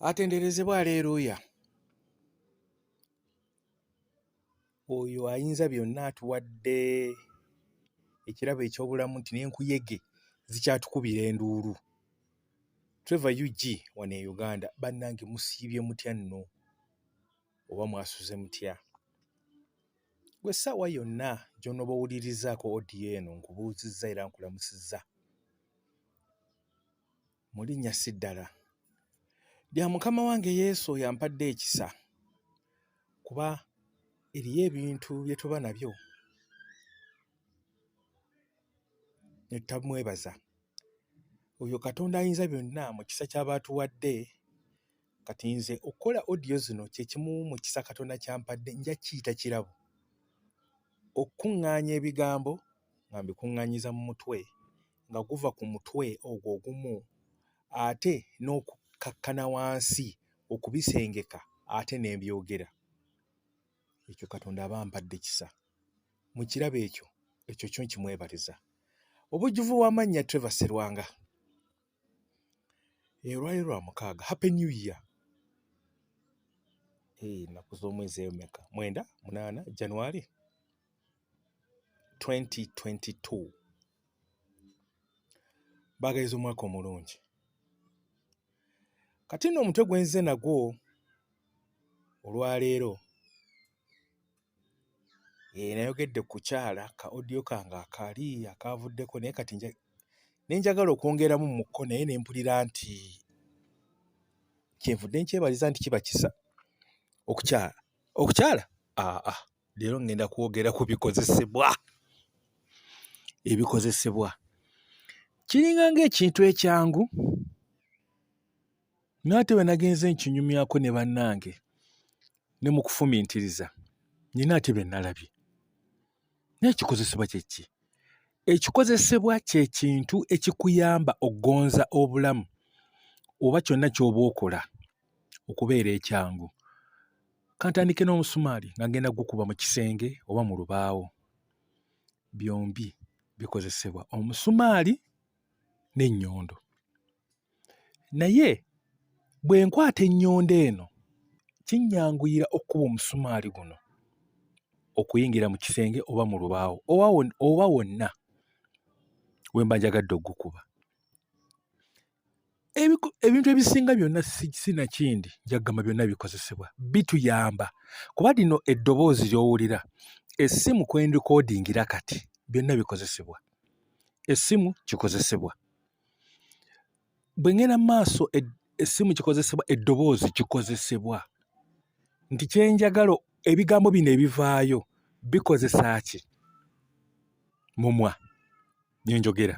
atenderezebwa aleeruuya oyo ayinza byonna atuwadde ekirabo eky'obulamu nti n'enkuyege zikyatukubira enduulu trevor ug wano e uganda bannange musiibye mutya nno oba mwasuze mutya gwe essaawa yonna gy'onooba owulirizaako odiyo eno nkubuuzizza era nkulamusizza mu linnya si ddala lya mukama wange yesu oyo ampadde ekisa kuba eriyo ebintu bye tuba nabyo ne tutamwebaza oyo katonda ayinza byonna mu kisa ky'aba atuwadde Kati nze okukola audio zino kyekimu mu kisa Katonda kyampadde nja kiyita kirabo, okukuŋŋaanya ebigambo nga mbikuŋŋaanyiza mu mutwe nga guva ku mutwe ogwo ogumu ate n'okukakkana wansi okubisengeka ate ne mbyogera. Ekyo Katonda aba ampadde kisa. Mu kirabo ekyo, ekyo kyo nkimwebaliza. Obujjuvu bw'amannya Trevor Serwanga. Eh, olwali lwa mukaaga happy new year eh, naku z'omwezi eyo meka mwenda munaana january 2022 bagaiza omwaka omulungi kati nno omutwe gwenze nagwo olwaleero Eeh nayogedde ku kyala ka audio kange akaali akaavuddeko naye kati nja ne njagala okwongeramu mu ko naye ne mpulira nti kyenvudde nkyebaliza nti kiba kisa okukyala okukyala aa ah, ah, leero ngenda kwogera ku bikozesebwa ebikozesebwa kiringa ngaekintu ekyangu naye ate bwe nagenze nkinyumyako ne bannange ne mu kufumintiriza nina ate bye nalabye naye ekikozesebwa kye ki ekikozesebwa kye kintu ekikuyamba okugonza obulamu oba kyonna ky'oba okola okubeera ekyangu kantandike n'omusumaali nga ngenda gukuba mu kisenge oba mu lubaawo byombi bikozesebwa omusumaali n'ennyondo naye bwe nkwata ennyondo eno kinnyanguyira okukuba omusumaali guno okuyingira mu kisenge oba mu lubaawo oba wonna we mba njagadde okugukuba ebintu ebisinga byonna sinakindi njagamba byonna bikozesebwa bituyamba kuba lino eddoboozi lyowulira essimu kwendikoodingira kati byonna bikozesebwa essimu kikozesebwa bwe ngenda maaso e, essimu kikozesebwa eddoboozi kikozesebwa nti kyenjagala ebigambo bino ebivaayo bikozesa ki mumwa byenjogera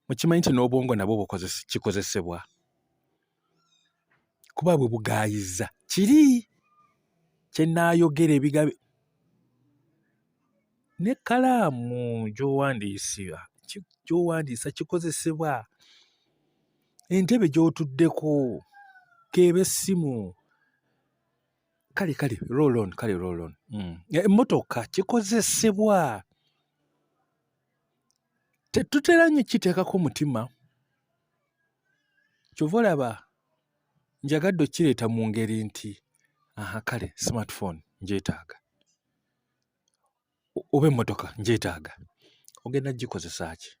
mukimanyi nti n'obwongo nabwo kikozesebwa kuba bwe bugaayiza kiri kyenaayogera ebigabe ne kalaamu gyowandiisibwa gyowandiisa kikozesebwa entebe gy'otuddeko keeba essimu kale kale roll on kale roll on mm. emmotoka kikozesebwa tetutera nnyo kiteekako mutima kyova olaba njagadde okireeta mu ngeri nti aha kale smartphone njetaaga oba emmotoka njetaaga ogenda gikozesa ki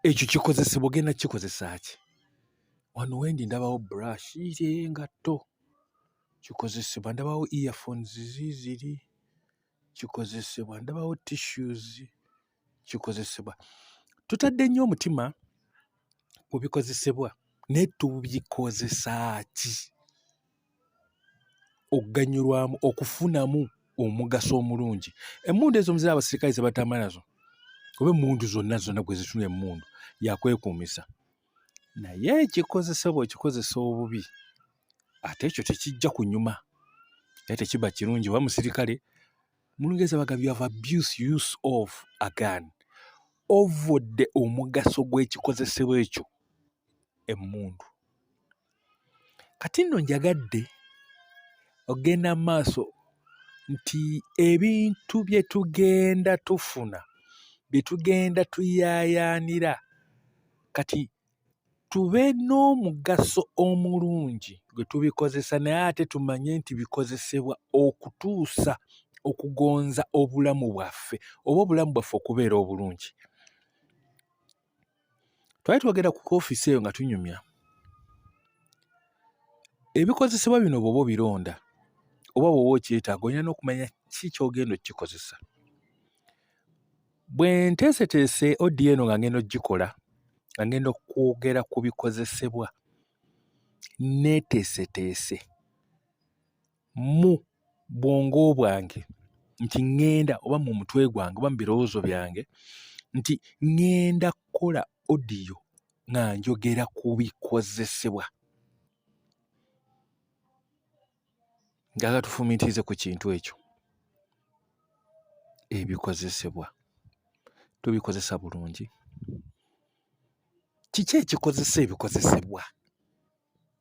ekyo kikozesebwa ogenda kikozesa ki wano wendi ndabawo brush iri engatto kikozesebwa ndabawo earphones ziziri kikozesebwa ndabawo tissues kikozesebwa tutadde nnyo omutima ku bikozesebwa naye tubikozesa ki okuganyulwamu okufunamu omugaso omulungi emmundu ezo muzira abasirikale zebatambula nazo oba emmundu zonna zonna gwe zitunula emmundu yakwekuumisa naye ekikozesa bwekikozesa obubi ate ekyo tekijja kunyuma naye tekiba kirungi oba musirikale mulungeza bagambi of abuse use of agan ovudde omugaso gw'ekikozesebwa ekyo emmundu kati nno njagadde ogenda mu maaso nti ebintu bye tugenda tufuna bye tugenda tuyaayaanira kati tube n'omugaso omulungi gwe tubikozesa naye ate tumanye nti bikozesebwa okutuusa okugonza obulamu bwaffe oba obulamu bwaffe okubeera obulungi. twali twogera ku ofiisi eyo nga tunyumya ebikozesebwa bino bwoba obironda oba bwoba okyetaaga olina n'okumanya ki kyogenda okukikozesa bwe nteeseteese odi eno nga ngenda okugikola nga ngenda okwogera ku bikozesebwa neeteeseteese mu bwongo bwange nti ŋŋenda oba mu mutwe gwange oba mu birowoozo byange nti ŋŋenda kukola odiyo nga njogera ku bikozesebwa njagala tufumiitirize ku kintu ekyo ebikozesebwa tubikozesa bulungi kiki ekikozesa ebikozesebwa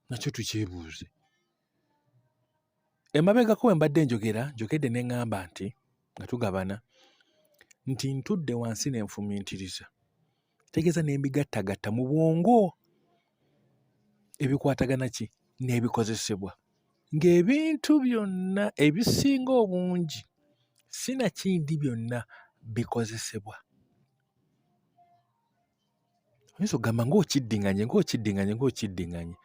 nakyo tukyebuuze emabegako we mbadde njogera njogedde ne ŋŋamba nti nga tugabana nti ntudde wansi ne nfumiitiriza tegeeza ne mbigattagatta mu bwongo ebikwatagana ki n'ebikozesebwa ng'ebintu byonna ebisinga obungi sinakindi byonna bikozesebwa oyinza okugamba ng'okiddinganye ng'okiddinganye ng'okiddinganye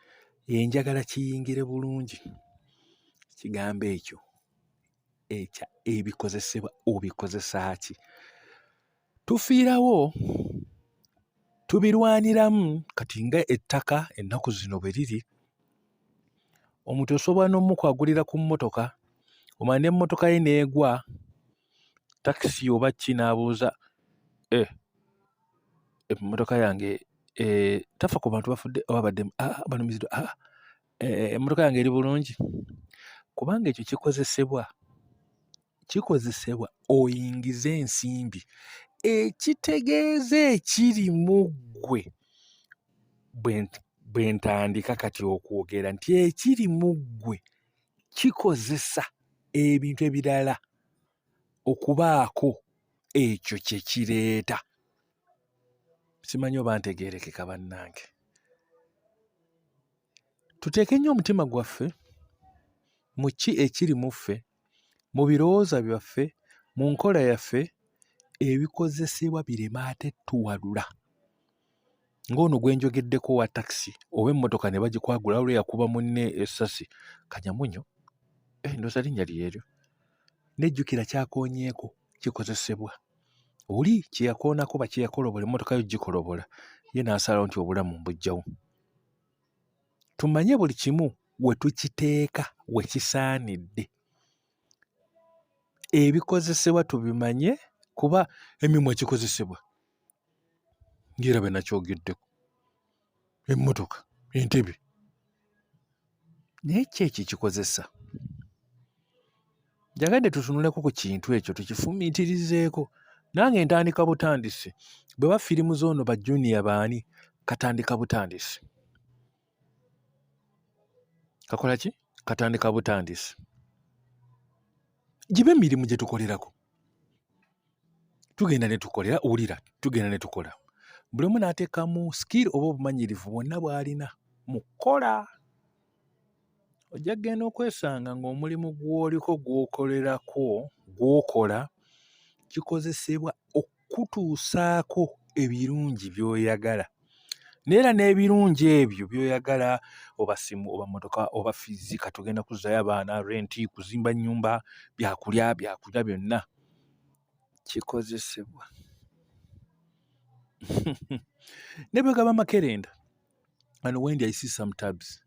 enjagala kiyingire bulungi kigambo ekyo ekya ebikozesebwa obikozesa ki tufiirawo tubirwaniramu kati nga ettaka ennaku zino bwe riri omuntu osobola n'omukwagulira ku mmotoka omala n'emmotoka ye n'egwa takisi oba ki n'abuuza eh, emmotoka yange eh, tafa ku bantu bafudde oba baddemu ah, banumiziddwa ah, eh, emmotoka yange eri bulungi kubanga ekyo kikozesebwa kikozesebwa oyingize ensimbi ekitegeeza ekiri mu ggwe bwe ntandika kati okwogera nti ekiri mu ggwe kikozesa ebintu ebirala. okubaako ekyo kye kireeta simanyi oba ntegeerekeka bannange tuteeke nnyo omutima gwaffe mu ki ekiri mu ffe mu birowooza byaffe mu nkola yaffe ebikozesebwa birema ate tuwalula ng'ono gwe njogeddeko owa takisi oba emmotoka ne bagikwagula olwo yakuba munne essasi kanyamunyo eh, ndoza linnya lyeryo nejjukira kyakonyeeko kikozesebwa oli kyeyakoonako bakyeyakolobola emmotoka yo gikolobola ye n'asalawo nti obulamu mbujjawo tumanye buli kimu we tukiteeka we kisaanidde ebikozesebwa tubimanye kuba emimwa kikozesebwa ngera bwe nakyogeddeko emmotoka entebe naye ki ekyo kikozesa njagadde tutunuleko ku kintu ekyo tukifumiitirizeeko nange ntandika butandisi bwe ba firimu zoono ba juniya baani katandika butandisi kakola ki katandika butandisi gibe emirimu gye tukolerako tugenda ne tukolera wulira tugenda ne tukola buli omu n'ateekamu skill oba obumanyirivu bwonna bw'alina mu kukola ojja kugenda okwesanga ng'omulimu gw'oliko gw'okolerako gw'okola kikozesebwa kukutuusaako ebirungi by'oyagala naye era n'ebirungi ebyo by'oyagala oba simu oba mmotoka oba fizi kati ogenda kuzzayo abaana renti kuzimba nnyumba byakulya byakulya byonna kikozesebwa ne bwe gaba makerenda and wendi i see some tabs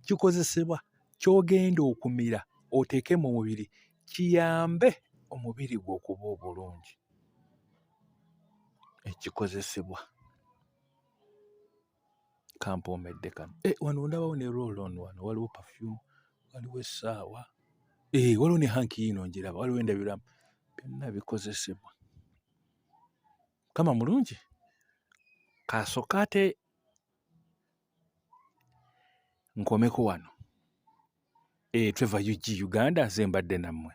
kikozesebwa kyogenda okumira oteeke mu mubiri kiyambe omubiri gwe okuba obulungi ekikozesebwa kampoomedde kano eh, wano ndabawo ne rolon wano waliwo perfume waliwo essaawa eh, waliwo ne hanki yiino njiraba waliwo endabiramu byonna bikozesebwa mukama mulungi kasooka ate nkomeko wano e, Trevor UG Uganda nze mbadde nammwe